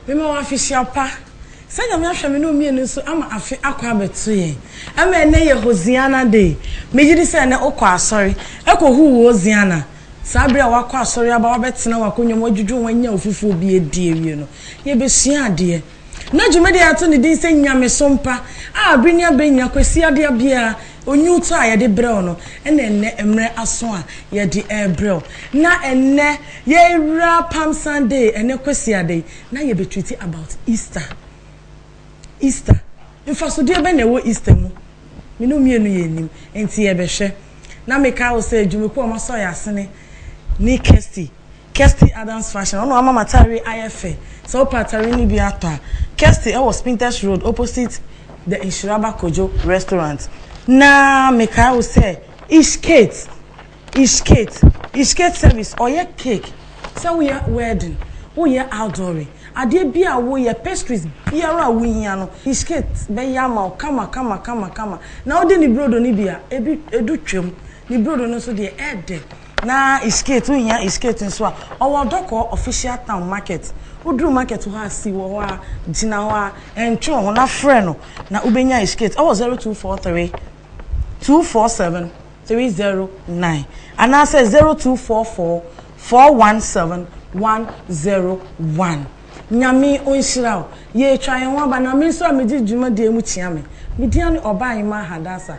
Mema wo afehyia pa. Sɛ Nyame ahwɛ me ne wo mmienu nso ama afe akɔ abɛto yɛn. Ɛma ɛnnɛ yɛ Hosiana Day. Megye di sɛ ɛnnɛ wokɔ asɔre, kɔhuu wo Hosiana. Saa bere a woakɔ asɔre aba, woabɛtena w'akonnwa mu, woadwudwo ho, anya wo fufuo bi adi awie no, yɛbɛsua adeɛ. Ná dwumadi a yɛato no din sɛ Nyamesom Pa a bere ne abere nyinaa Kwasiadea biara onwutɔ a yɛde brɛ wo no na ɛnnɛ mmere aso a yɛde rebrɛ wo. Ná ɛnnɛ yɛrewura Palm Sunday, ɛnnɛ Kwasiada yi, na yɛbɛtwiti about Easter. Easter. Mfasodeɛ bɛn na ɛwɔ Easter mu? Me ne wo mmienu yɛnnim, enti yɛbɛhwɛ. Na mekae wo sɛ dwumakuo a wɔasɔ yɛn asene ne Kirsty Kirsty Adams Fashion, ɔno ama m'ataareɛ ayɛ fɛ. Sɛ wopɛ ataareɛ no bi atɔ a, Kirsty wɔ Spintex Road opposite The Nhyiraba Kojo Restaurant. Na mekae wo sɛ Ish Kate, Ish Kate, Ish Kate Service, ɔyɛ cake, sɛ woyɛ wedding, woyɛ outdooring, adeɛ bi a woyɛ, pastries biara a wohia no, Ish Kate bɛyɛ ama wo kama kama kama kama. Na wode ne burodo no bi a, ebi, edu twam. Ne burodo no nso deɛ, ɛɛdɛ. Na Ishkate wohia Ishkate nso a, ɔwɔ Dɔkɔɔ Official Town Market. Woduru market hɔ a, si wɔ hɔ ara, gyina hɔ ara, ɛntwe wo ho na frɛ no na wobɛnya Ishkate wɔ 0243 247 309 anaasɛ 0244 417 101. Nyame ɔnhyira wo. Yɛretwa yɛn ho aba na me nso a megye dwumadie mu kyea me. Medin ne Ɔbaa Nyemaa Hadasa.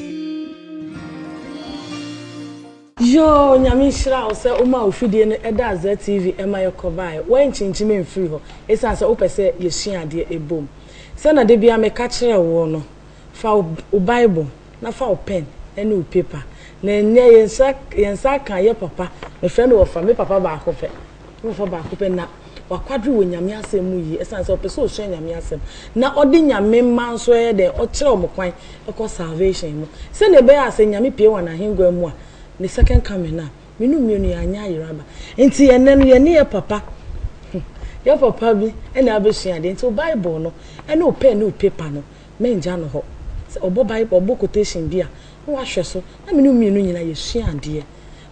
Yoo Nyame nhyira wo sɛ womaa wo fidie no ɛdaa ZTV ɛma yɛkɔbaeɛ. Woankyinkyim amfiri hɔ ɛsiane sɛ wopɛ sɛ yɛsua adeɛ ɛbom. Sɛ na dabiara meka kyerɛ woɔ no, fa wo Bible na fa wo pɛn ne wo paper. Na ɛnnɛ yɛn nsa aka yɛ papa, mefrɛ no wɔfa, me papa baako pɛ. Ɔwofo baako pɛ na wakwadwere wɔ Nyame asɛm mu yie ɛsiane sɛ ɔpɛ sɛ ɔsua Nyame asɛm na ɔde Nyame mma nso ɛyɛ dɛn ɔkyerɛ wɔn kwan kɔ salvation mu sɛdeɛ ɛbɛyɛ a sɛ Nyame pue wɔ N'ahengua mu a Ne second coming no a me nom mmienu yɛn anyɛ ayera aba nti ɛnnɛ no yɛne yɛ papa yɛ papa bi ɛna abɛsua adeɛ nti wo Bible no ɛne wo pen ne wo paper no mɛngya no hɔ sɛ ɔbɔ Bible ɔbɔ quotation bi a na wahwɛ so na me ne wo mmienu nyinaa yɛsua adeɛ.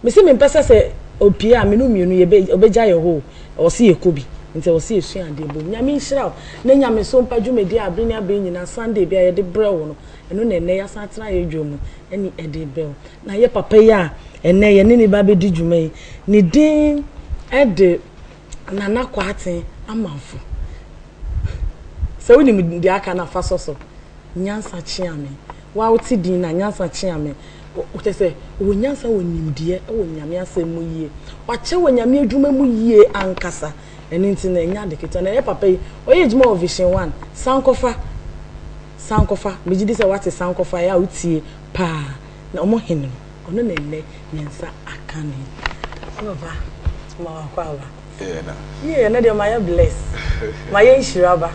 Me se mempɛ sɛ sɛ opie a me no mmienu yɛbɛ ɔbɛgya yɛ hɔ o ɔse yɛkɔ bi nti ɔse yɛsua adeɛ bom Nyame nhyira wo ne nyamesom pa dwumadie a abere ne abere nyinaa Sunday biara yɛde brɛ wo no ɛno na ɛnnɛ yɛasan atena yɛ dwa mu ɛne ɛde brɛ wo na yɛ papa yi a ɛnnɛ yɛne ne ba bɛdi dwuma yi ne din ɛde Nana Kwarteng Amanfo. Sɛ wonim deɛ aka no a fa sɔ so. Nyansa kyea me. Wo a wote din no a, nyansa kyea me. Kyerɛ sɛ, ɔwɔ nyansa wɔ nimdeɛ wɔ Nyame asɛm mu yie. Wakyɛ wɔ Nyame adwuma mu yie ankasa. Ɛno nti no, ɛnyɛ ade ketewa. Na yɛ papa yi, ɔyɛ adwuma wɔ Vision One. Sankɔfa. Sankɔfa. Megye di sɛ woate Sankɔfa. Ɛyɛ a wotie paa. na wɔn hene no, ɔno na ɛnnɛ me nsa aka no yi. Papa, ma wakɔ aba. Yie ɛnɛ deɛ mayɛ bless. Mayɛ nhyira aba.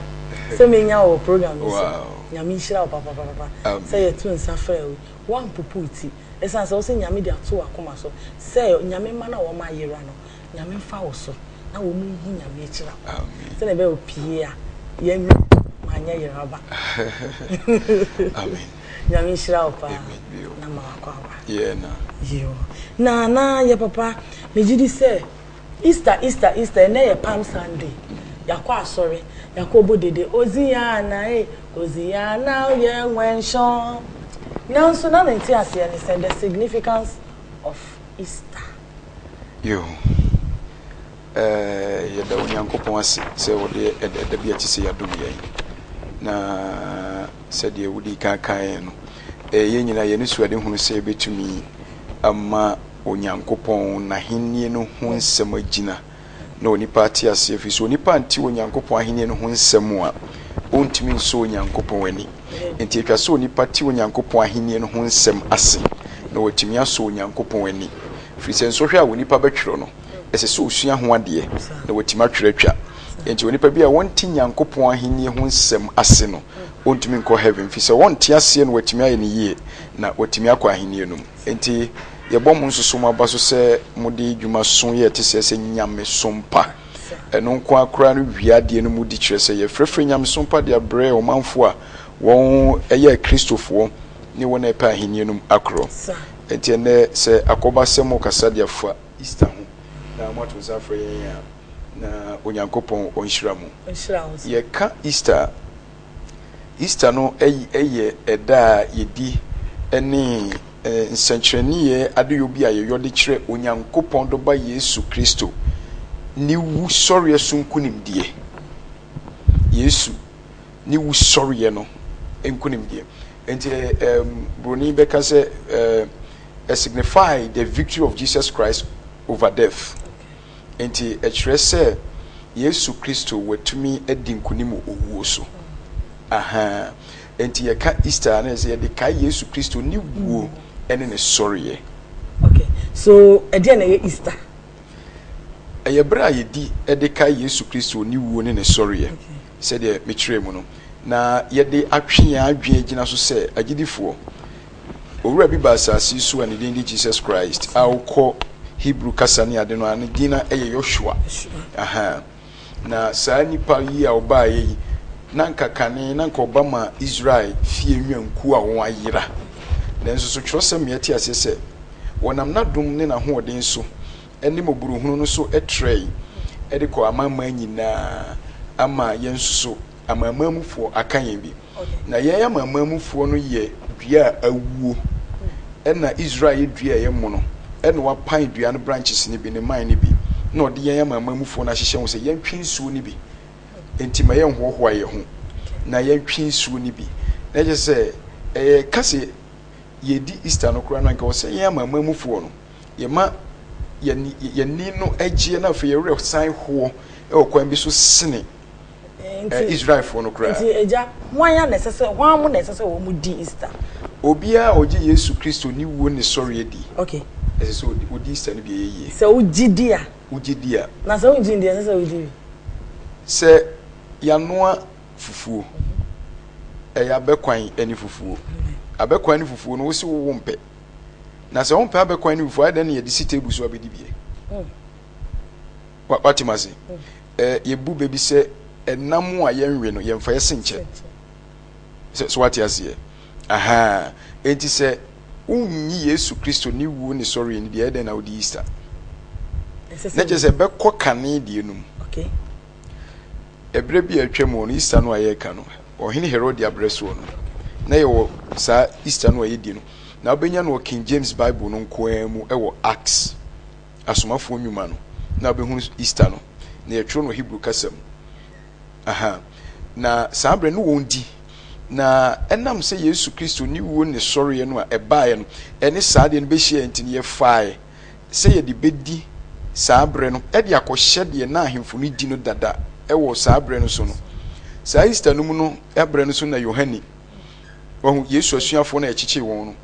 Sɛ menya wɔ program yi so. Nyame nhyira wo papapapa. Sɛ yɛto nsa frɛ wo yi, woampopo wo ti. Ɛsiane sɛ wo se Nyame de ato w'akoma so sɛ Nyame mma no a wɔn ayera no, Nyame mfa wo so na wɔn nhu Nyame akyira kwan. Sɛdeɛ ɛbɛyɛ opie a, yɛanya, manyɛ yera aba. Amen. Nyame nhyira wo paa na ma wakɔ aba. Yoo na na yɛ papa me gye di sɛ Easter Easter Easter ɛnɛ yɛ palm Sunday yakɔ asɔre yakɔ bɔ dede Oziana ee Oziana o yɛ wɛnhyɔn nanso na me nte aseɛ ne sɛ the significance of Easter. Yoo. Yɛda Onyankopɔn ase sɛ ɔde ɛda da bi a ɛte sɛ yi adom yɛn, na sɛdeɛ wodii kan kaeɛ no, ɛyɛ yɛn nyinaa yɛn anisoadehunu sɛ yɛbɛtumi ama Onyankopɔn n'ahennie no ho nsɛm agyina na onipa ate aseɛ, ɛfiri sɛ onipa ante Onyankopɔn ahennie no ho nsɛm a, ɔntumi nsɔ Onyankopɔn ani. Enti ɛtwa sɛ onipa te Onyankopɔn ahennie no ho nsɛm ase na watumi asɔ Onyankopɔn ani, ɛfiri sɛ nsɔhwɛ a onipa bɛtwerɛ no, ɛsɛ sɛ ɔsua ho adeɛ na watumi atwerɛ atwa. Enti onipa bi a wɔnte Nyankopɔn ahennie ho nsɛm ase no, ɔntumi nkɔ heaven, firi sɛ ɔnte aseɛ na watumi ayɛ no yie na watumi akɔ ahennie no mu. Enti yɛbɔ mo nsoso mo aba so sɛ mode dwuma so yɛ te sɛ sɛ nyamesom pa. Ɛno nko ara koraa no wie adeɛ no mu di kyerɛ sɛ yɛfrɛfrɛ nyamesom pa de abrɛ ɔmanfoɔ a wɔyɛ Akristofoɔ ne wɔn a ɛpɛ ahennie no mu akorɔ. Enti ɛnnɛ sɛ akɔba sɛ mokasa de afa Easter ho na moato nsa afrɛ yɛn a, na Onyankopɔn ɔnhyira mo. Ɔnhyira wo nso. Yɛka Easter a, Easter no yɛ ɛda a yɛdi ne nsɛnkyerɛnneɛ adeyɔ bi a yɛyɔ de kyerɛ Onyankopɔn Dɔba Yesu Kristo ne wu sɔreɛ so nkunimdie. Yesu. ne wusɔreɛ no nkonimdie. Enti ɛ ɛm buroni bɛka sɛ ɛ ɛ signify the victory of Jesus Christ over death. Enti ɛkyerɛ sɛ Yesu Kristo watumi adi nkonim wɔ owuo so. Ahaa enti yɛka Easter a na ɛsɛ yɛde kae Yesu Kristo ne wuo ɛne ne sɔreɛ. Okay so ɛdeɛ na ɛyɛ Easter? Ɛyɛ bere a yedi de kae Yesu Kristo ne wuo ne ne sɔreɛ, sɛdeɛ mekyerɛɛ mu no, na yɛde atwe yɛn adwene agyina so sɛ agyidifoɔ. Owura bi baa asase so a ne din de Jesus Christ, a wokɔ Hebrew kasa ne ade no a, ne din na ɛyɛ Yoshua. Aha. Na saa nnipa yi a wɔbaeɛ yi, na anka kane na anka wɔba ma Israel fie nnwankuo a wɔayera. Nanso so twerɛsɛm yɛ te aseɛ sɛ wɔnam n'adom ne n'ahoɔden so ne mmɔborɔhunu no so trɛe de kɔɔ amanaman nyinaa ama yɛn nso so amanamanmufoɔ aka yɛn bi. Na yɛn amanamanmufoɔ no yɛ dua a awuo, ɛna Israel yɛ dua a ɛyɛ mono, ɛna wapan dua no branches no bi, ne mman no bi, na ɔde yɛn amanamanmufoɔ no ahyehyɛ ho sɛ yɛntwe nsuo no bi. Enti ma yɛnhoahoa yɛn ho na yɛntwe nsuo no bi. Na kyerɛ sɛ, ɛyɛ ka sɛ yɛredi Easter no koraa no, anka ɛwɔ sɛ yɛn amanamanmufoɔ no, yɛma yɛn yɛn ani no gyeɛ na afei yɛn werɛ san hoɔ wɔ kwan bi so sene Ɛ, Israelfoɔ no koraa. Nti, Agya, hwan ara na ɛsɛ sɛ, hwan mo na ɛsɛ sɛ wɔn di Easter? Obiara a ɔgye Yesu Kristo ne wuo ne sɔreɛ di. Okay. Ɛsɛ sɛ ɔdi, ɔdi Easter no bi, ɛyɛ yie. Sɛ wogye di a. Wogye di a. Na sɛ wongye ndi a, ɛsɛ sɛ wodi bi. Sɛ yanoa fufuo, ɛyɛ abɛkwan ne fufuo. Abɛkwan ne fufuo no, wose wo wompɛ. Na sɛ wompɛ abɛkwan ne fufuo a, adɛn na yɛde si table so abɛdi bi ɛ? Hmm. Wa, wate mu ase? Ɛ, yɛbu bɛ bi sɛ ɛnam a yɛnwe no, yɛmfa yɛ senkyɛ. Sɛ, so wate aseɛ? Aha. Enti sɛ wonnyi Yesu Kristo ne wuo ne sɔreɛ no di, ɛyɛ dɛn na wode Easter? Na kyerɛ sɛ ɛbɛkɔ kane deɛ no mu. Okay. Ɛberɛ bi a atwa mu hɔ no, Easter no a yɛreka no, Ɔhene Herode abrɛ soɔ no, na yɛwɔ saa Easter no a yɛdi no. Na wobɛnya no wɔ King James Bible no nko ara mu wɔ Acts Asomafoɔ Nnwuma no, na wobɛhunu Easter no, na yɛtwerɛ no wɔ Hebrew kasa mu. Aha. Na saa berɛ no wɔn di. Na ɛnam sɛ Yesu Kristo ne wuo ne sɔreɛ no a ɛbaeɛ no ɛne saa adeɛ no bɛhyiaeɛ nti no, yɛfaaɛ sɛ yɛde bɛdi saa berɛ no de akɔhyɛ deɛ na ahemfo no di no dada wɔ saa berɛ no so no. Saa Easter no mu no berɛ no so na Yohane, wahu, Yesu asuafoɔ no a yɛkyekyee wɔn no,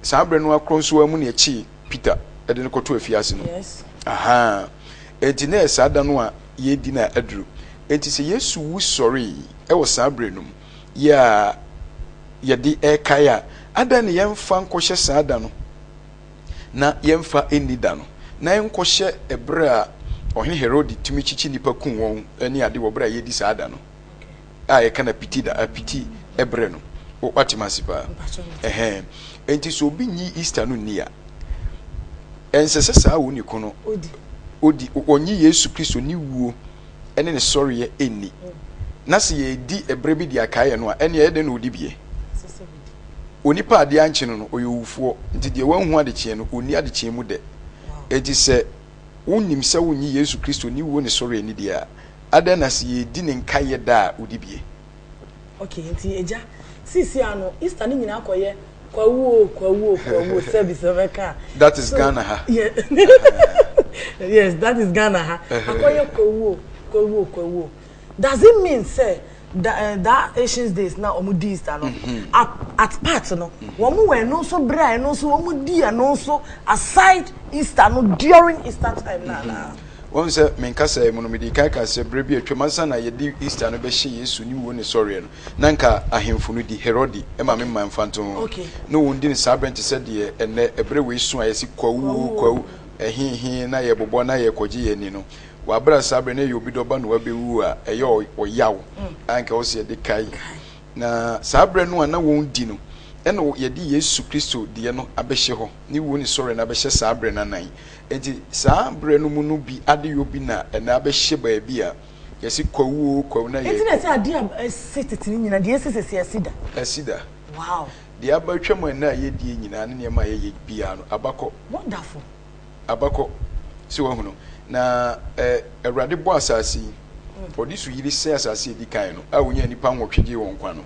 saa berɛ no ara korɔ nso ara mu na yɛkyee. Peter de no kɔto afiase no. Yes. Aha. Enti na ɛyɛ saa da no a yɛredi no a aduru. Enti sɛ Yesu wu sɔree wɔ saa berɛ no mu yi a yɛde ɛrekae a, adɛn na yɛmfa nkɔhyɛ saa da no na yɛmfa nni da no, na ɛnkɔhyɛ ɛberɛ a Ɔhene Herode tumi kyekye nnipa kum wɔn ne ade wɔ berɛ a yɛredi saa da no? a yɛka no apiti da apiti ɛbrɛ no wate mase paa ɛhɛn enti sɛ obi nyi Easter no nni a ɛnsɛ sɛ saa wo ne ko no odi ɔnye Yesu Kristo ne wuo ɛne ne sɔreɛ ɛnni na sɛ yɛdi ɛbrɛ bi de akaeɛ no a ɛne ɛyɛ dɛn na ɔdi bie onipa adeɛ ankye no no ɔyɛ owufoɔ nti deɛ wanhu adekyeɛ no ɔnni adekyeɛ mu dɛ enti sɛ wonim sɛ wonye Yesu Kristo ne wuo ne sɔreɛ ne deɛ a Adɛn na sɛ yɛdi ne nkaeɛ da a wodi bie? Ok nti agya seesei a no Easter no nyinaa kɔyɛ Kwawu o Kwawu o Kwawu o service no bɛka a. That is Ghana ha. Yes that is Ghana ha akɔyɛ Kwawu o Kwawu o Kwawu o does it mean sɛ da eh, that ancient days na wɔn di easter no at at part no wɔn wɔ ɛno nso berɛ a ɛno nso wɔn di ɛno nso aside easter no during easter time na na wɔn sɛ menkasa yi mu no mede kan ka sɛ berɛ bi atwam ansa na yɛde easter no bɛhyɛ yesu ne wuo ne sɔreɛ no na nka ahemfo no di herode ma me mma mfa nto ho Okay. na wɔn di no saa berɛ nte sɛ deɛ ɛnɛ ɛberɛ wei so a yɛsi kwawu o kwawu ɛhehe na yɛbobɔ na yɛkɔgye yɛn ani no w'abrɛ saa berɛ na ɛyɛ obi dɔba na wabɛwu a ɛyɛ ɔyaw a nka wɔ sɛ yɛde kae na saa berɛ no a na wɔn di no ɛna yɛde Yesu Kristo deɛ no abɛhyɛ hɔ ne wuo ne sɔre no abɛhyɛ saa berɛ no anan nti saa berɛ no mu no bi adeyɔ bi na ɛna abɛhyɛ baabi a yɛsi kwawuo kwawu na yɛ nti na ɛsɛ adeɛ a ɛsi tete no nyina deɛ ɛsi sɛsi asi da asi da wow deɛ abatwa mu ɛna a yɛdie nyinaa ne nneɛma a yɛyɛ biara no abakɔ wonderful abakɔ sɛ wahunu na ɛ awurade bɔ asase yi ɔde so yiri sɛ asase edi kan no a wonya nipa nwɔtwe gye wɔn nkwa no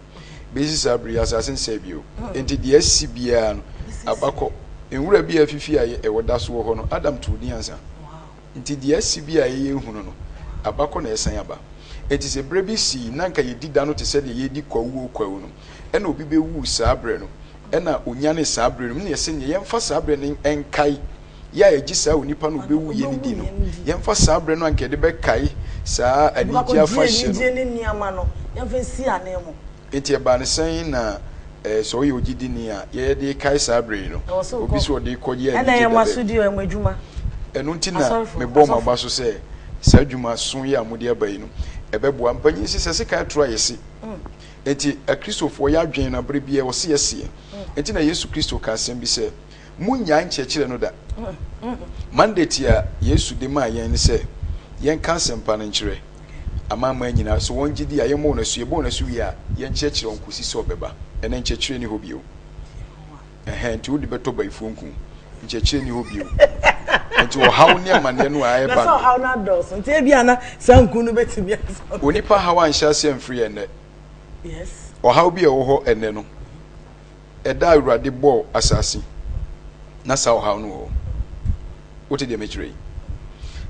besi saa bere asase nsɛ bio nti deɛ asi biara no abakɔ nwura bi a afifi a ɛwɔ da so wɔ hɔ no adam too din ansa nti deɛ asi bi a ɛyɛ ehunu no abakɔ na ɛsan aba nti sɛ bere bi si na nka yɛdi da no te sɛ deɛ yɛdi kwawuo kwawu no ɛna obi bɛwu saa bere no na onyanee saa bere no, ɛno na yɛse neɛ yɛmfa saa bere no nkae yɛ a ɛgye saa onipa no a ɔbɛwuiɛ no di no, yɛmfa saa bere no a nka yɛde bɛkae saa anigyeɛ afahyɛ no. Enti ɛbaa no sɛn na sɛ ɔyɛ ogyidini a yɛyɛ de kae saa bere no? Obi sɛ ɔde kɔ yɛ anigye da baabi. Ɛno nti na mebɔɔ mo aba so sɛ saa adwuma soyɛ a mode aba yi no ɛbɛboa. Mpanin sesa sekan toro ayɛ se. Enti Akristofoɔ yɛ adwene na berɛ biara wɔse yɛseɛ. Enti na Yesu Kristo ka asɛm bi sɛ, Monnyae nkyerɛkyerɛ no da. Mandate a Yesu de maa yɛn ne sɛ yɛnka asɛmpa no nkyerɛ amanaman nyinaa. So wɔn gye di a, yɛmmɔ wɔn asu. Yɛbɔ wɔn asu wie a, yɛnkyerɛkyerɛ wɔn kɔsi sɛ ɔbɛba. Ɛnnɛ nkyerɛkyerɛ nni hɔ bio. Ɛhɛɛ nti wode bɛtɔ bayifoɔ nku? Nkyerɛkyerɛ nni hɔ bio. Nti ɔhaw ne amaneɛ no a ɛreba no. Na sɛ ɔhaw no adɔɔso nti ebia na saa nku no bɛtumi asɔ. Onipa haw anhyɛ aseɛ amfiri ɛnnɛ. Yes. Ɔhaw bi a ɛwɔ hɔ ɛnnɛ no, ɛda a Awurade bɔɔ asase na saa ɔhaw no wɔ hɔ. Wote deɛ mekyerɛ yi?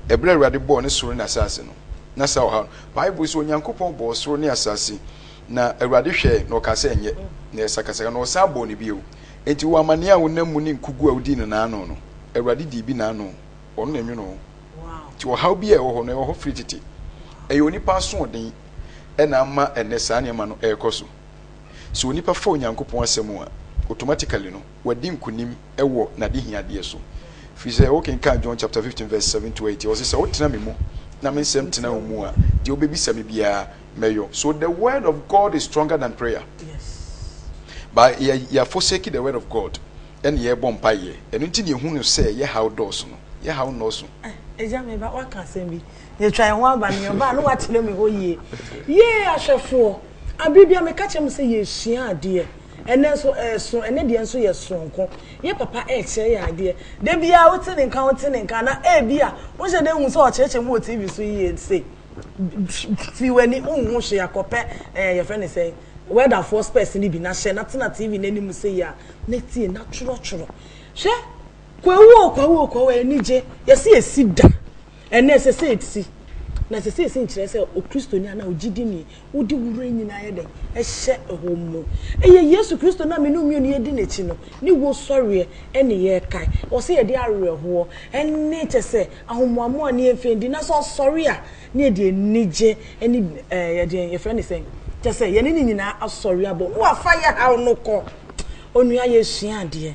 Ɛberɛ a Awurade bɔɔ ne soro ne asase no, na saa ɔhaw no. Bible sɛ Onyankopɔn bɔɔ soro ne asase Na Awurade hwɛɛ, na ɔkaa sɛ, Ɛnyɛ. Na ɛyɛ sakasaka. Na ɔsan bɔɔ no bio. Enti wo amanneɛ a wonam mu ne nkogu a wodii no naano no, Awurade dii bi naano. Ɔno na ɛnwonoo wo. Enti ɔhaw bi a ɛwɔ hɔ no, ɛwɔ hɔ firi tete. Ɛyɛ onipa asoɔden na ama ɛnnɛ saa nneɛma no rekɔ so. Sɛ onipa fa Onyankopɔn Asɛm a, automatically no, wadi nkonim wɔ n'adehiadeɛ so. Ɛfiri sɛ, wokenkan John chapter fifteen verse seven to eight a, ɔse, Sɛ wotena me mu na me nsɛm tena wo mu a, deɛ wobɛbisa me biara, mɛyɔ so the word of God is stronger than prayer ba yɛ yɛ forsake the word of God ɛna yɛ bɔ mpa yɛ ɛno nti na ehu no sɛ yɛ haw dɔɔso no yɛ haw nɔɔso. ɛgya mi ba waka asɛm bi yɛ twa yɛn ho aba ne yɛn ba no wakyerɛ mi hɔ yie yie ahwɛfoɔ abiri bi a meka kyerɛ mu sɛ yɛ sua adeɛ ɛnɛ nso ɛso eh, ɛnɛ deɛ nso yɛ soronko yɛ papa ɛkyerɛ yɛ adeɛ dabi a wote ne nka wote ne nka na ebi a wohyɛ dɛ hu sɛ ɔkyerɛkyerɛ mu wɔ tv so yie se. Fi w'ani nhu hwee a, kɔpɛ eh, yɛfrɛ no sɛn, welderfoɔ spɛs no bi na hyɛ na tena TV no anim sei a, na tie na twerɔtwerɔ. Hwɛ, Kwawu o, Kwawu o, Kwawu, anigye, yɛse ɛsi da, ɛnɛ ɛsɛ sɛ ɛsi. Na ɛsɛ sɛ ɛsi nkyerɛ sɛ Okristoni anaa ogyidini Wode wo werɛ nyinaa yɛ dɛn? Hyɛ hɔ mu. Ɛyɛ Yesu Kristo no a me ne wo mmienu yɛdi n'akyi no, ne wusɔreɛ ne yɛrekae. Ɛwɔ sɛ yɛde awerɛhoɔ ne kyɛ sɛ ahomoamoa ne yɛmfa ndi. Na sɛ ɔsɔre a, ne yɛde anigye ne ɛɛ deɛn yɛfrɛ no sɛn? Kyɛ sɛ yɛne ne nyinaa asɔre abɔ mu. Wafa yɛ haw no kɔ. Onua yɛresua adeɛ.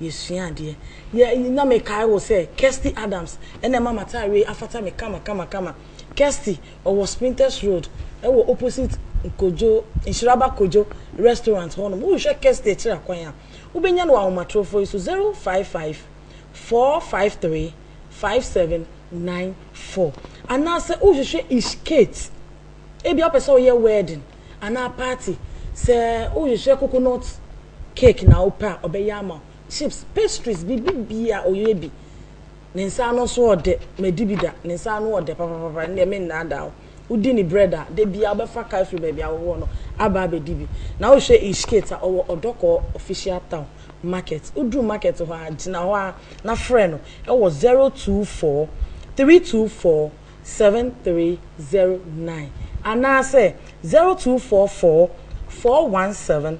yɛsua adeɛ. Yɛ na me kae wo sɛ Kirsty Adams na ɛma m'atareɛ yi afata me kama kama kama. Kirsty ɔwɔ Sprinters Road ɛwɔ opposite Kojo, Nhyiraba Kojo restaurant hɔ nom. Wohwɛ Kirsty akyiri akwan a, wobɛnya no wɔ ahomatrofoɔ yi so, 0554535794. Anaasɛ wohwehwɛ Ish Kate, ebia wopɛ sɛ woyɛ wedding anaa party, sɛ wohwehwɛ coconut Cake na wopɛ a, ɔbɛyɛ ama wo. Chips, pastries, biribiara ɔyɛ bi. Ne nsa ano nso yɛ ɔdɛ. Madi bi da, ne nsa ano yɛ ɔdɛ papapapa. Ɛndeɛ mennaadaa wo. Wodi ne bread a, da biara wobɛfa ka afiri baabi a wowɔ no aba abɛdi bi. Na wohwɛ Ishkate a, ɔwɔ Ɔdɔkɔɔ Official Town Market. Woduru market hɔ a, gyina hɔ ara na frɛ no wɔ 024 324 7309 anaasɛ 0244 417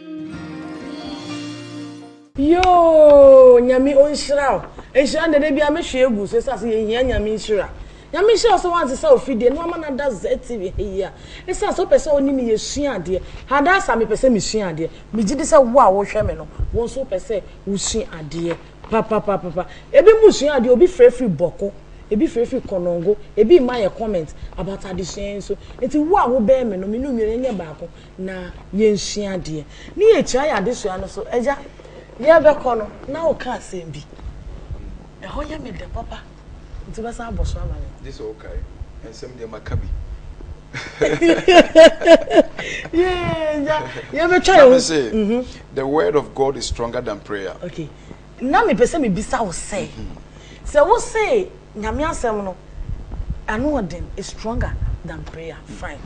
Yoo nyame onhyira wo. Nhyira deɛ da biara me hwe gu so ɛsɛ ase yɛ hia nyame nhyira. Nyame nhyira wo sɛ wa nsesa wo fidie na wa ma no ada ZTV ha yi a ɛsɛ ase wo pɛ sɛ wo ne me yɛ sua adeɛ. Hadasa me pɛ sɛ me sua adeɛ me gyidi sɛ wo a wo hwɛ me no wo nso wo pɛ sɛ wo sua adeɛ papapapapa. Ɛbi mo sua adeɛ obi frɛ firi bɔko ɛbi frɛ firi konongo ɛbi mma yɛ comment about adesua yi nso nti wo a wo bɛn me no me ne wo mmienu yɛ nyɛ baako. na yɛnsua adeɛ, ne yɛkyira yɛn adesua no so. Agya, yɛrebɛkɔ no, na woka asɛm bi. Ɛhɔ yɛ me dɛ papa, nti wobɛsan abɔ so ama me. Gye sɛ wokae. Nsɛm deɛ maka bi. yɛbɛtwa yɛn ho sɛ mhm. the word of god is stronger than prayer okay na mepɛ sɛ mebisa wo sɛ mhm. sɛ wo se nyame asɛm no ɛno ɔden is stronger than prayer mhm. fine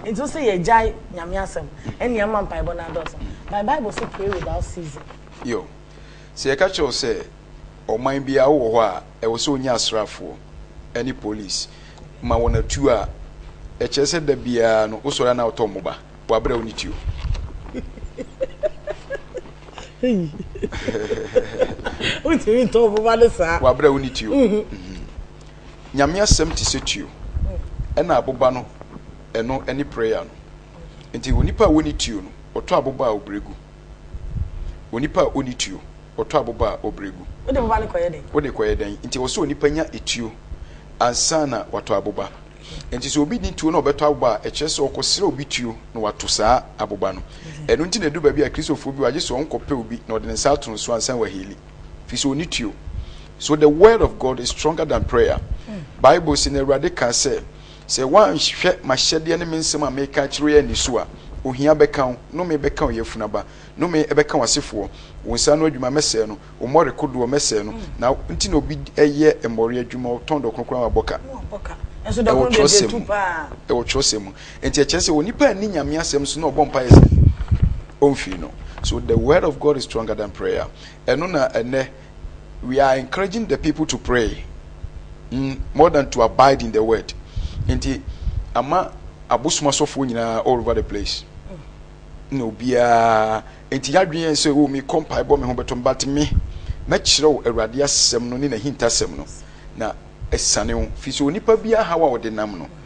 Enti wo sɛ yɛgyae Nyame asɛm ɛne ama mpaebɔ no adɔɔso. But Bible se pray without ceasing. Yo. Sɛ yɛka kyerɛ wo sɛ ɔman bi a wowɔ hɔ a ɛwɔ sɛ wonya asraafoɔ ɛne police ma wɔn atuo a, ɛkyerɛ sɛ da biara no wosɔre a na wotɔ mmoba. Wabrɛ wo ne tuo. Wontumi ntɔ mmoba ne saa. Wabrɛ wo ne tuo. Nyame asɛm te sɛ tuo ɛna aboba no ɛno ɛne prayer no nti onipa a wɔni tuo no ɔtɔ aboba a ɔbrɛ gu onipa a ɔni tuo ɔtɔ aboba a ɔbrɛ gu wode boba no kɔyɛ dɛn wode kɔyɛ dɛn nti wɔ sɛ onipa nya etuo ansa na watɔ aboba nti sɛ obi ni tuo na ɔbɛtɔ aboba a ɛkyerɛ sɛ ɔkɔsrɛ obi tuo na wato saa aboba no ɛno nti na ɛdu baabi a kristofoɔ bi wagye sɛ ɔnkɔpɛ obi na ɔde ne nsa ato no so ansa wahili firi sɛ ɔni tuo so the word of god is stronger than prayer hmm. bible sɛ na awurade kaa sɛ sɛ woanhwɛ mahyɛdeɛ ne me nsɛm a meka kyerɛ yɛ ani so a ohia bɛka wo nome bɛka wo yɛfunaba nome ɛbɛka wo asefoɔ wo nsa no adwuma mɛsɛe no wo mmɔre kodoɔ mɛsɛe no hmm. na nti na obi ɛyɛ mmɔre adwuma ɔtɔn dɔ kronkron a wabɔ ka ɛwɔ twerɛsɛm mu ɛwɔ twerɛsɛm mu Enti ɛkyerɛ sɛ onipa anni Nyame asɛm so na ɔbɔ mpaeɛ sɛ ɔmfiri no. So the word of God is stronger than prayer. Ɛno na ɛnɛ we are encouraging the people to pray mm, more than to abide in the word. Enti ama abosom asɔfoɔ nyinaa all over the place na obiara enti yɛadwene yɛn sɛ o oh, mekɔ mpaebɔ me ho bɛtɔ me but me mɛkyerɛw awurade asɛm no ne n'ahintasɛm no na ɛsane wo fi sɛ onipa biara haw a ɔde nam no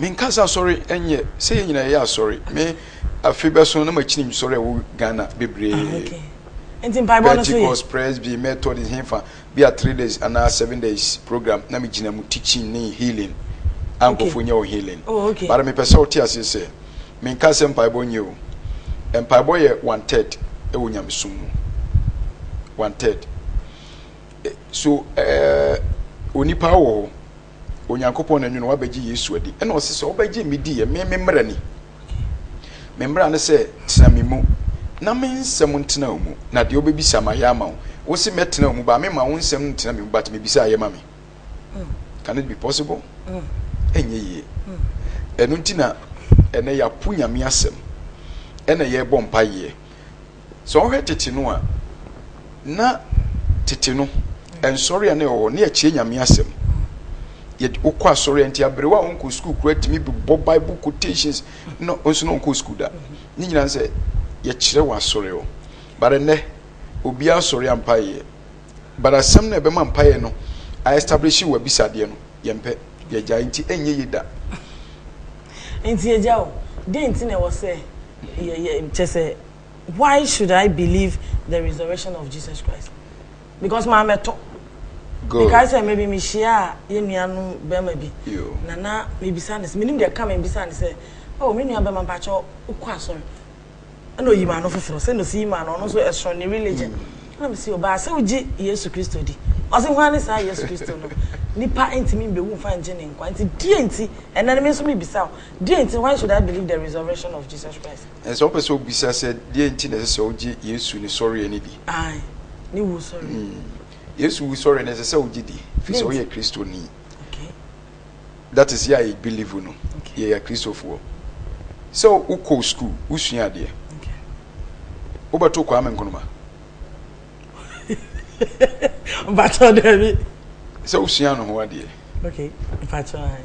Me nka sɛ asɔre ɛnyɛ sɛ yɛ nyina yɛ asɔre me afe bɛso na makyini msɔre ɛwɔ Ghana bebree ah, okay. Pentecost, Presby, Methodist hefa bi a three days anaa seven days program na megyina mu teaching ne healing ankɔfo okay. nyɛ wɔ healing oh, okay. bara mepɛ sɛ wote aseɛ sɛ menka sɛ mpaebɔ nyɛ o mpaebɔ yɛ one third ɛwɔ nyamesom mu one third so uh, onipa wɔ hɔ Onyankopɔn na nwene wabɛgye Yesu adi. Ɛna ɔse sɛ wobɛgye me di yɛ, me me mmara ni. Me mmara ne sɛ tena me mu na me nsɛm ntena wo mu, na deɛ wobɛbisa ma yɛ ama wo. Wo se mɛtena wo mu ba, me ma wo nsɛm no ntena me mu, but mebisa yɛ ma me. Mm. Can it be possible? Mm. Ɛnyɛ yie. Mm. Ɛno nti na ɛnɛ yɛapo Nyame asɛm, ɛna yɛbɔ mpayeɛ. Sɛ wɔhwɛ tete no a, na tete no nsɔre a na ɛwɔ hɔ ne ɛkyerɛ nyame asɛm. Yɛde wokɔ asɔre nti aberewa a wɔnkɔ sukuu kura tumi bɔ bible quotations na nso na wɔnkɔ sukuu da. Ne nyinaa sɛ yɛkyerɛ wɔ asɔre hɔ. But ɛnɛ obiara asɔre a mpaeɛ yɛ. But asɛm no ɛbɛma mpaeɛ no a establish wɔ abisadeɛ no yɛmpɛ yɛgyae nti ɛnyɛ yie da. Nti agya o, dɛn nti na ɛwɔ sɛ yɛ yɛ kyɛ sɛ. Why should I believe the resurrection of Jesus Christ? Because my meto. Good. Because I maybe me share ye nuanu bema bi. Na na me bisa ne se menim de ka me bisa ne se oh me nua bema pa cho ukwa asori. Ana oyi ma no foforo se no si ma no no so esro ne religion. Mm. Na me se oba se uji Yesu Kristo di. Ose hwan ne saa Yesu Kristo no? Nipa ntimi mbe wu mfa nje ne nkwa. Nti die nti ena ne me so me bisa. Die nti why should I believe the resurrection of Jesus Christ? Ɛsɛ wopɛ sɛ wobisa sɛ, deɛn nti na ɛsɛ sɛ wogye Yesu ne sɔreɛ no di? Ae, ne wusɔreɛ. Mm. Yesu wusɔreɛ no ɛsɛ sɛ wogye di, firi sɛ woyɛ Kristoni. Okay. That is, yɛ a yɛbelieve no, okay. yɛyɛ Kristofoɔ. Sɛ wokɔ sukuu, wosua adeɛ. Okay. Wobɛto Kwame Nkrumah. Mpatsɔ dɛbi. Sɛ wosua no ho adeɛ. Okay, mpatsɔ ae.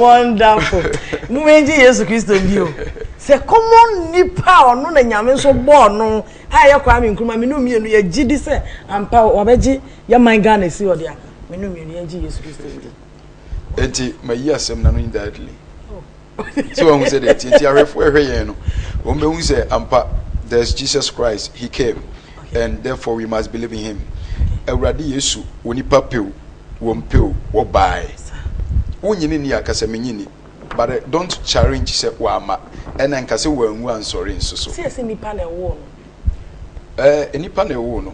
wonderful momɛngye yesu kristo bio sɛ kɔmmɔ nnipa a ɔno na nyame nso bɔɔ no a ɛyɛ kwaa me nkuruma mene mmienu yɛgye di sɛ ampa wabɛgye yɛman ghana si ɔde a mene mmienu yɛngye yesu kristo ndi enti mayi asɛm na no indirectly sɛ wɔn ho sɛ deɛ ɛteɛ nti ahwɛfoɔ ɛhwɛ yɛn no wɔn bɛhu sɛ ampa there is Jesus Christ he came and therefore we must believe in him awurade yesu wɔ nipa pew wɔn pew wɔbae wonyini ni akasa menyini but eh, don't challenge sɛ wama ɛna nka sɛ wɔanwu ansɔre nso so sɛ ɛsɛ nipa na ɛwɔ no ɛɛ eh, nipa na ɛwɔ no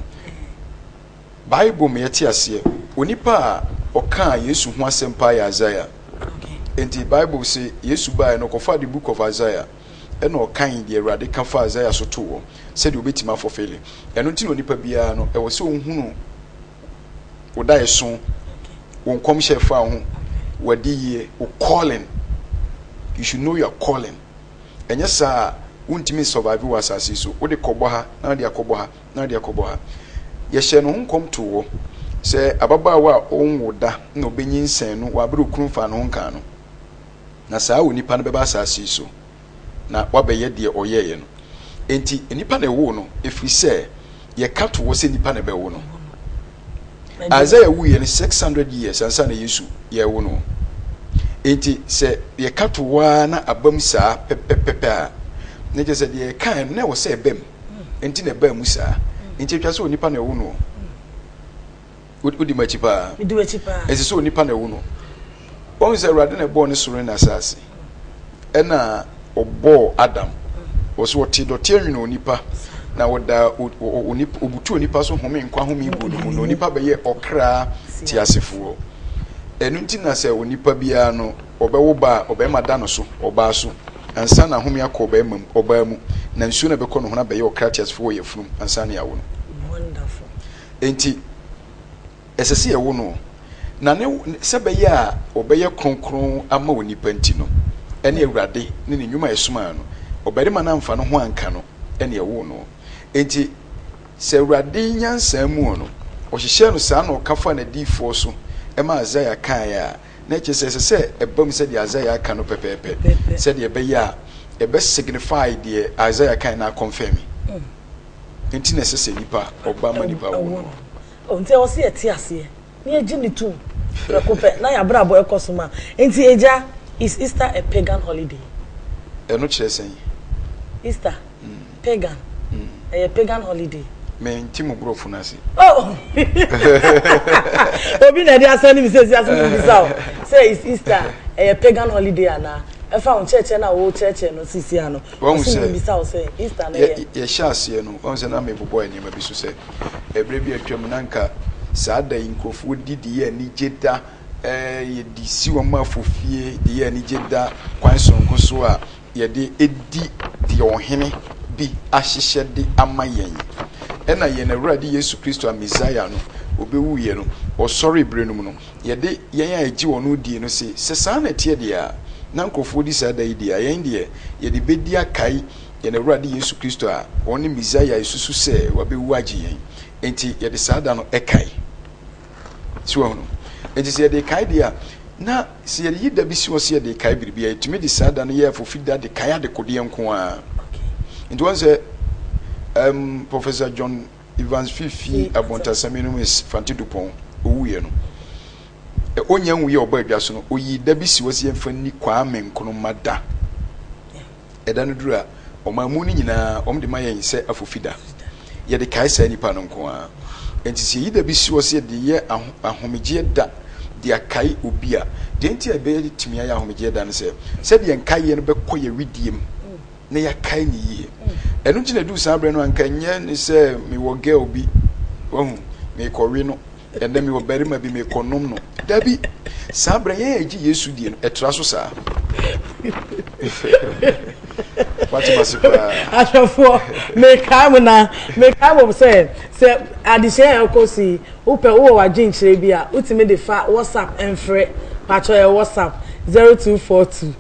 Bible ma yɛte aseɛ onipa a ɔkaa Yesu ho asɛm paa yɛ Isaiah. Enti Bible se Yesu baeɛ no ɔkɔfaa the book of Isaiah ɛna ɔkan deɛ Awurade ka fa Isaiah so too hɔ sɛdeɛ ɔbɛtumi afɔfele. Ɛno nti na onipa biara no ɛwɔ sɛ ɔhunu wo daeɛso, wo nkɔmhyɛ ɛfa wo ho, w'adiyie, wo calling. You should know your calling. Ɛnyɛ saa a wontumi nsurvive wɔ asase yi so. Wode kɔbɔ ha na wode akɔbɔ ha. na ade akɔbɔ ha. Yɛhyɛɛ ne ho nkɔm too hɔ sɛ ababaawa a ɔnwo da na ɔbɛnyinsɛn no wɔ abere a okunu faa ne ho nkaa no. Na saa onipa no bɛba asase yi so na wabɛyɛ deɛ ɔyɛeɛ no. Enti nnipa na ɛwoo no, ɛfiri sɛ yɛka too hɔ sɛ nnipa na ɛbɛwo no. Isaiah wuiɛ no 600 years ansa na Yesu yɛrewo no. Enti sɛ yɛka too hɔ ara na abam saa pɛpɛpɛpɛ a, na kyerɛ sɛ deɛ yɛkae no na ɛwɔ sɛ ɛbam. nti na ɛbaa mu saa nti atwa sɛ onipa na ɛwo no wodi m'akyi paa ɛsɛ sɛ onipa na ɛwo no wɔn sɛ awurade na ɛbɔɔ ne soro ne asase ɛna ɔbɔɔ adam wɔ so ɔte dɔte anwene onipa na ɔda ɔbutu onipa so home nkwa home gu no mu na onipa bɛyɛ ɔkra te asefoɔ ɛno nti na sɛ onipa biara no ɔbɛwo ba a ɔbɛma da no so ɔbaa so Ansa na ahome akɔ ɔbarima mu, ɔbaa mu, na nsuo no a ɛbɛkɔ ne ho no abɛyɛ ɔkra teasefo wɔ yafunu mu ansa na yɛawo no. Wonderful. Enti, ɛsɛ sɛ yɛwo no, na ne, sɛ bɛyɛ a ɔbɛyɛ kronkron ama onipa nti no, ɛne Awurade ne ne nnwuma a ɛsomaa no. Ɔbarima no amfa ne ho anka no na ɛwoo no. Enti, sɛ Awurade nyansa mu no, ɔhyehyɛɛ no saa na ɔka faa n'adiyifoɔ so ma Isaiah kaeɛ a, Na ɛkyerɛ sɛ ɛsɛ sɛ ɛba mu sɛdeɛ Isaiah aka no pɛpɛɛpɛ, sɛdeɛ ɛbɛyɛ a ɛbɛ signify deɛ Isaiah kan na akɔnfɛmi. Mm. Nti na ɛsɛ sɛ nipa ɔba ma nipa wo no. Nti ɛwɔ sɛ yɛte aseɛ na yɛgye ne tom prɛko pɛ na yɛabrabɔ ɛkɔ so ma. Nti agya, is Easter a pagan holiday? Ɛno kyerɛ sɛn? Easter. Mm. Pagan. Mm. Ɛyɛ pagan holiday. Me nti mo borɔfo no ase. Oh! Obi na ɛde asɛn ne mi sɛ esi ase mi bisa o. Sɛ is Easter ɛyɛ pagan holiday ana? Ɛfa wɔn kyerɛkyerɛ na wɔwɔ kyerɛkyerɛ no sisi ano. Wɔn sɛ mi bisa o sɛ Easter na ɛyɛ. Yɛhyɛ aseɛ no wɔn sɛ na mi bobɔ nneɛma bi so sɛ ɛbrɛ bi atwa mu na nka saa da yi nkurɔfoɔ di de yɛ anigye da ɛɛ yɛde si wɔn afofie de yɛ anigye da kwan soronko so a. yɛde di deɛ ɔhene bi ahyehyɛ de ama yɛn. Ɛna yɛn Awurade Yesu Kristo a Mesaia no ɔbɛwuiɛ no, ɔsɔre berɛ no mu no, yɛde yɛn a ɛgye ɔno die no se, sɛ saa na ɛteɛ deɛ a, na nkurɔfoɔ di saa da yi deɛ a, yɛn deɛ, yɛde bɛdi akae yɛn Awurade Yesu Kristo a ɔne Mesaia a yɛsusu sɛ wabɛwu agye yɛn. Enti yɛde saa da no kae. So wahu no? Enti sɛ yɛde kae deɛ a, na sɛ yɛyi da bi si hɔ sɛ yɛde kae biribi a, yɛtumi de saa da no yɛ afofida de kae adekodeɛ nko ara. Nti wɔn sɛ um, Professor John Evans Fifi Abontasam Enumis Fante Dupont owuiɛ no, ɔnya nwui a ɔbɔ adwa so no, ɔyii da bi si hɔ sɛ yɛmfa nni Kwame Nkrumah da. Ɛda no duru a, ɔmaa mu no nyinaa wɔde ma yɛn sɛ afofida. Yɛde kae saa nnipa no nko ara. Enti sɛ yɛyi da bi soɔ sɛ yɛde yɛ ahomegyeɛ da de akae obi a, deɛ nti a ɛbɛtumi ayɛ ahomegyeɛ da ne sɛ, sɛdeɛ nkaeɛ no bɛkɔ yɛn wedeɛ mu na yɛakae no yie. Ɛno nti na ɛduru saa berɛ no a, anka ɛnyɛ ne sɛ mewɔ girl bi, wahu, merekɔwe no, Ɛnnɛ me wɔ barima bi me kɔ nom no. Dabi! Saa berɛ yɛn a yɛgye Yesu die no, ɛtra so saa. Wate ma se paa. Ahwɛfoɔ, mekae mo na mekae mo sɛ sɛ adesua yɛ ɛkɔ so yi, wopɛ wowɔ w'adwenkyerɛ bi a, wotumi de fa WhatsApp mfrɛ. Patwɔ yɛ WhatsApp 0242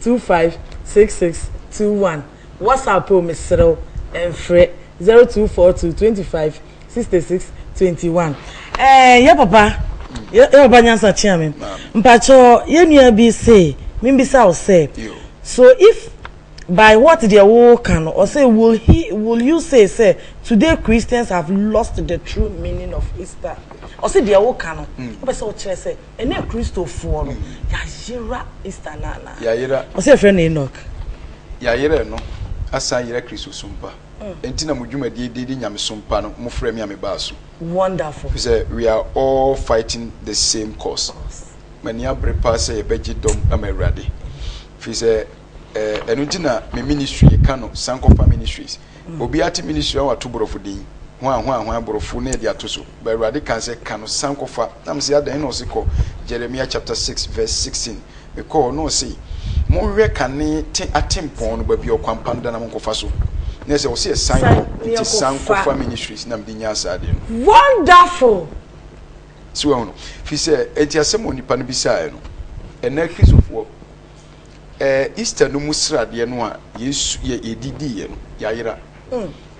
25 66 21. WhatsApp o, meserɛ wo, mfrɛ 0242 25. sixty six twenty one ɛɛ eh, yɛ papa yɛ papa nyansa kyea me mpatsɔ yɛ nua bi se mimbisa wo sɛ so if by what deɛ woka no ɔsɛ will he will you say sɛ today christians have lost the true meaning of easter ɔsɛ deɛ woka no hmm. wopɛ sɛ wokyerɛ sɛ ɛne kristofoɔ no hmm. yɛayera easter no anaa ɔsɛ yɛfrɛ no enoch yɛayerɛ no asan yerɛ kristo so mpa Enti na mo dwumadie din de Nyamesom Pa no mo frɛ me a me baa so. Wonderful. Ɛfiri sɛ we are all fighting the same cause. M'ani abere paa sɛ yɛbɛgye dɔm ama Awurade. Ɛfiri sɛ eh, ɛno nti na me ministry yɛka no Sankofa Ministries. Mm. Obi ate ministry a wato borɔfo din. Hwan hwan hwan borɔfo na yɛde ato so. Ba Awurade kan sɛ ka no Sankofa. Na me sɛ adɛn na ɔse kɔ Jeremiah chapter 6 verse 16. Mekɔɔ, na ɔse, Monhwɛ kane te atempɔn no baabi a ɔkwanpano da no na monkɔfa so. Na ɛsɛ, ɔse yɛsan kɔ, nti san kɔfa Ministries na mede nyaa saa adeɛ no. Wonderful! So wahunu? Firi sɛ, enti asɛm a onipa no bisaeɛ no, ɛnnɛ Kristofoɔ, ɛɛ, Easter no mu sradeɛ no a Yesu, yɛ, yɛdi diiɛ no, yɛayera.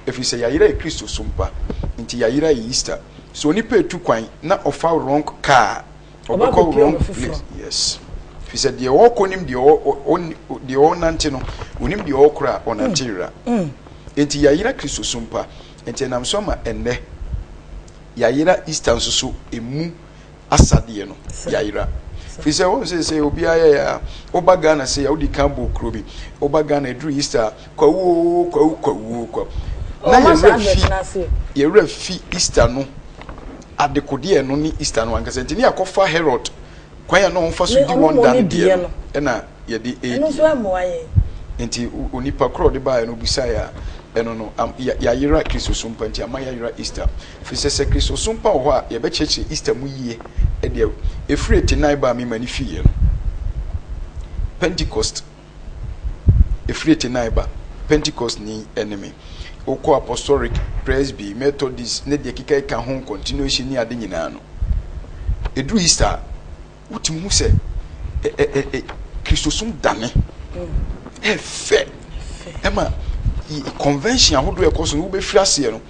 Ɛfiri sɛ yɛayera yɛ Kristosom pa, nti yɛayera yɛ Easter. So onipa retu kwan na ɔfa wrong car Ɔba Ɔbɛkɔ abɛpia wrong ɔba foforɔ. place. Yes. Fi sɛ deɛ ɔrekɔ nim deɛ ɔ- ɔ- ɔnni- ɔ- deɛ ɔrenante no, onim deɛ ɔrekɔ a ɔnante yera. Enti yɛayera Kristo so mpa. Enti ɛnam so ama ɛnnɛ yɛayera Easter nso so emu asadeɛ no Sir. yɛayera. Sir. Fi sɛ wɔn sɛ sɛ obiara yɛ a, woba Ghana sɛ a wodi kan bɔ kuro bi, woba Ghana ɛduru Easter a, Kwawu oo kwawu kwawu oo kwawu. Na yɛn werɛ fi yɛn werɛ fi Easter no adekodeɛ no ne Easter no ankasa nti ne yɛakɔfa Herod kwan a na wɔfa so di wɔn da no deɛ no ɛna yɛde ɛredi nti onipa korɔ de baeɛ no obisaeɛ a ɛno no yɛayera kristosom pa nti ama yɛayera Easter firi sɛ sɛ kristosom pa wɔ hɔ a yɛbɛkyerɛkyerɛ Easter mu yie ɛdeɛ ɛfiri ɛte nan ba a mema ne fiiɛ no Pentecost Ɛfiri Chennai ba, Pentecostni ne me. Wokɔ Apostolic, Presby, Methodist ne deɛ ɛkeka ɛka ho continuation ne ade nyinaa no, ɛduru Easter a, wotumi hu sɛ Kristosom dane ɛfɛ ɛma convention ahodoɔ ɛkɔ so no wobɛfiri aseɛ no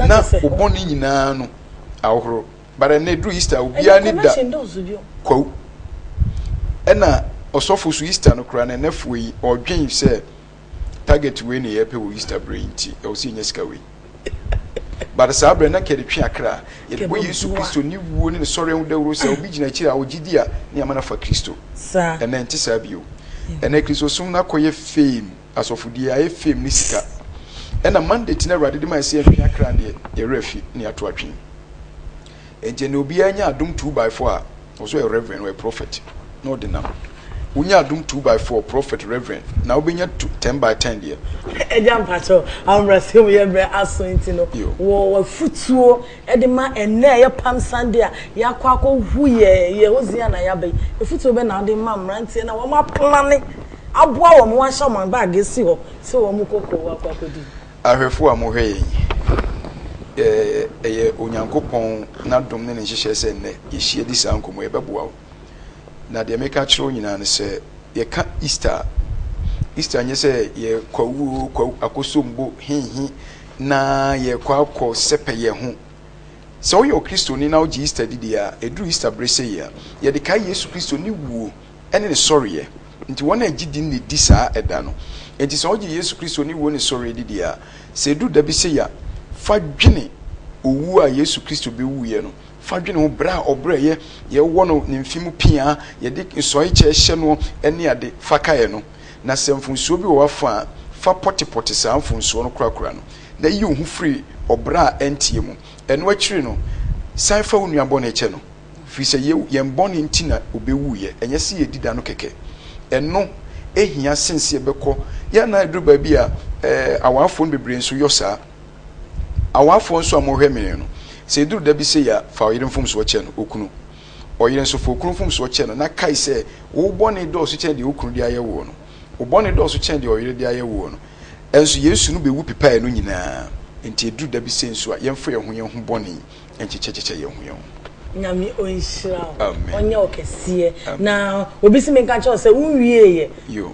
na wobɔne nyinaa no ahohoro. But ɛnɛ eduru Easter obiara ne da. Ɛnɛ convention dɔɔso bio. Kwawu. Ɛna ɔsɔfo so Easter no koraa no ɛnɛ foɔ yi ɔdwen sɛ target wei na yɛpɛ wɔ Easter berɛ yi nti ɛwɔ sɛ yɛnya sika wei. But saa berɛ na kɛde twe akra. Yɛde bɔ Yesu Kristo ne wuo ne ne sɔre ho dawuro sɛ obi gyina akyiri a ɔgye di a ne ama no afa Kristo. Ɛnɛ ɛnte saa bio. Ɛnɛ Kristosom no akɔyɛ fame. Asɔfodie ayɛ fame ne sika. Ɛna mandate no awurade de ma ɛsɛ yɛntwe akra deɛ yɛwerɛ afi ne yɛato atwene. Ɛnti ɛnɛ obiara nya adom 2 by 4 a ɔsɛ ɔyɛ reverend ɔyɛ prophet na ɔde nam. Wonya adom 2 by 4 prophet reverend na wobɛnya 10 by 10 deɛ. Agya mpakyɛw ahobrɛasɛm yɛ brɛ aso nti no wɔ wafutuo de ma ɛnɛ a ɛyɛ palm Sunday a yɛakɔ akɔ hu yɛ yɛ hosiana yɛaba yi afutuo bɛ na wode ma mmeranteɛ no a wɔn aplane aboa wɔn ma wɔahyɛ wɔn bag asi hɔ sɛ wɔnkɔ kurow akɔ akɔdi. Ahwɛfo a wɔhwɛ yɛn yi, ɛyɛ Onyankopɔn n'adom ne ne nhyehyɛe sɛ nnɛ yɛahyia di saa nkɔmmɔ yi. Ɛbɛboa wo. Na deɛ meka akyerɛ wo nyinaa ne sɛ, yɛka Easter a, Easter nyɛ sɛ yɛkɔ awuo, kɔ akosombo, hehe, na yɛkɔ akɔ sɛpɛ yɛn ho. Sɛ woyɛ Okristoni na wogye Easter di deɛ a, ɛduru Easter bere sei a, yɛde kae Yesu Kristo ne wuo. ne ne sɔreɛ nti wɔn a ɛgye di no na ɛdi saa ɛda no nti sɛ ɔgye Yesu Kristo ne wuo ne sɔreɛ di deɛ a sɛ ɛduru da bi sɛ ya fa dwene owuo a Yesu Kristo bɛwuiɛ no fa dwene ho berɛ a ɔbrɛeɛ yɛwɔ no ne mfe mu pia yɛde nsɔe kyɛ hyɛ noɔ ɛne ade fa kaeɛ no na sɛ mfonsuo bi wɔ w'afa a fa pɔtepɔte saa mfonsuo no korakora no na yi wo ho firi ɔbrɛ a ɛnteɛ mu ɛno akyiri no san fa wo nua bɔne kyɛ no. Ɛfiri sɛ yɛn, yɛn bɔne nti na ɔbɛwuiɛ, ɛnyɛ sɛ yɛadi da no kɛkɛ. Ɛno hia sene sɛ yɛbɛkɔ. Yɛ na ɛduru baabi a, ɛɛ, awafoɔ no bebree nso yɔ saa. Awafoɔ nso a mohwɛ me no, sɛ ɛduru da bi sei a, fa ɔyere mfomsoɔ kyɛ no, okunu. Ɔyere nso, fa okunu mfomsoɔ kyɛ no, na kae sɛ, wo bɔne dɔɔso kyɛn deɛ wo kunu de ayɛ woɔ no. Wo bɔne dɔɔso kyɛn deɛ ɔyere de ayɛ woɔ no. Ɛnso Yesu no bɛwu pepaeɛ no nyinaa. Enti ɛduru da bi sei nso a, yɛmfa yɛn ho yɛn ho bɔne, nkyekyɛkyekyɛ yɛn ho yɛn ho. Nyame ɔnhyira wo ɔnyɛ wo kɛseɛ na obi se menka nkyerɛ wo sɛ wo nwieɛ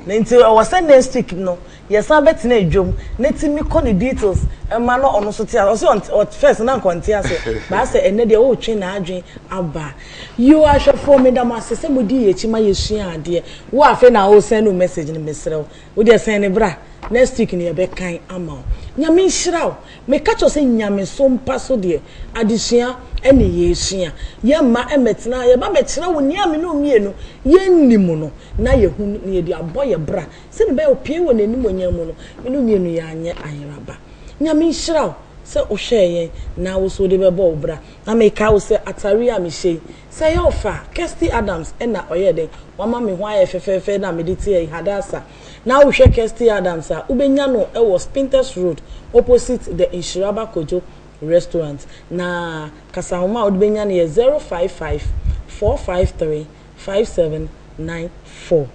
na nti ɛwɔ sɛ next week no yɛsan bɛtena adwam na ti me kɔ ne details ma na ɔno nso te ase ɔse ɔnte first na nka ɔnte ase but asɛ ɛnɛ deɛ wotwe n'adwen aba yoo ahwɛfoɔ meda mo ase sɛ modi yɛ akyi ma yɛsua adeɛ wo afei na wo send wo message no mesrɛ wo wo deɛ sɛn ne bra next week no yɛbɛkan ama wo Nyame nhyira wo Meka kyerɛ wo sɛ nyamesom mpa so deɛ, adesua ne yɛresua. Yɛmma mmɛtena ha, yɛba bɛkyerɛ wo nea me ne wo mmienu yɛnnim no, na yɛhu no, na yɛde abɔ yɛn bra, sɛdeɛ ɛbɛyɛ a ɔpue wɔ n'animuonyam mu no, me ne wo mmienu yɛanyɛ ayeraba. Nyame nhyira wo sɛ wohwɛɛ yɛn, na wo nso wode bɛbɔ wo bra. Na mekae wo sɛ atare yi a mehyɛ yi, sɛ ɛyɛ wo fɛ a, Kirsty Adams na ɔyɛɛ dɛn? Wama me ho ayɛ fɛfɛɛfɛ na mede te ha yi, Hadassah. Na wohwɛ Kirsty Adams a, wobɛnya no wɔ Spintex Road opposite The Nhyiraba Kojo Restaurant. Na kasanoma a wode bɛnya no yɛ 055 453 5794.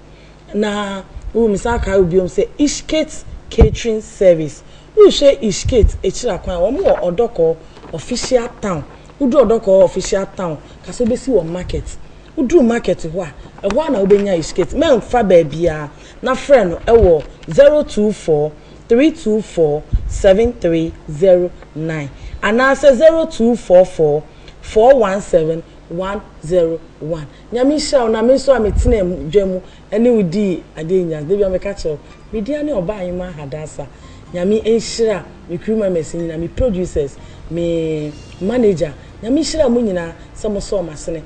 Na wo mesan akae wo biom sɛ Ishkate Catering Service. Wohwɛ Ishkate akyira kwan a, wɔn wɔ Odɔkɔɔ Official Town. Woduru Odɔkɔɔ Official Town, ka sɛ wobɛsi wɔn market. Woduru market hɔ a, ɛhɔ ara na wobɛnya his kit. Mɛmfa baabiara na frɛ no wɔ 024 324 7309 anaasɛ 0244 417 101. Nyame nhyira wo na me nso a metenaa mu dwa mu ne wo dii adeɛ nyinaa. Da bi a meka kyerɛ wo, me din ane Obaa Nyomaa Hadasa. Nyame nhyira me crew members nyinaa, me producers, me manager. Nyame nhyira mo nyinaa sɛ mosɔɔ m'asene.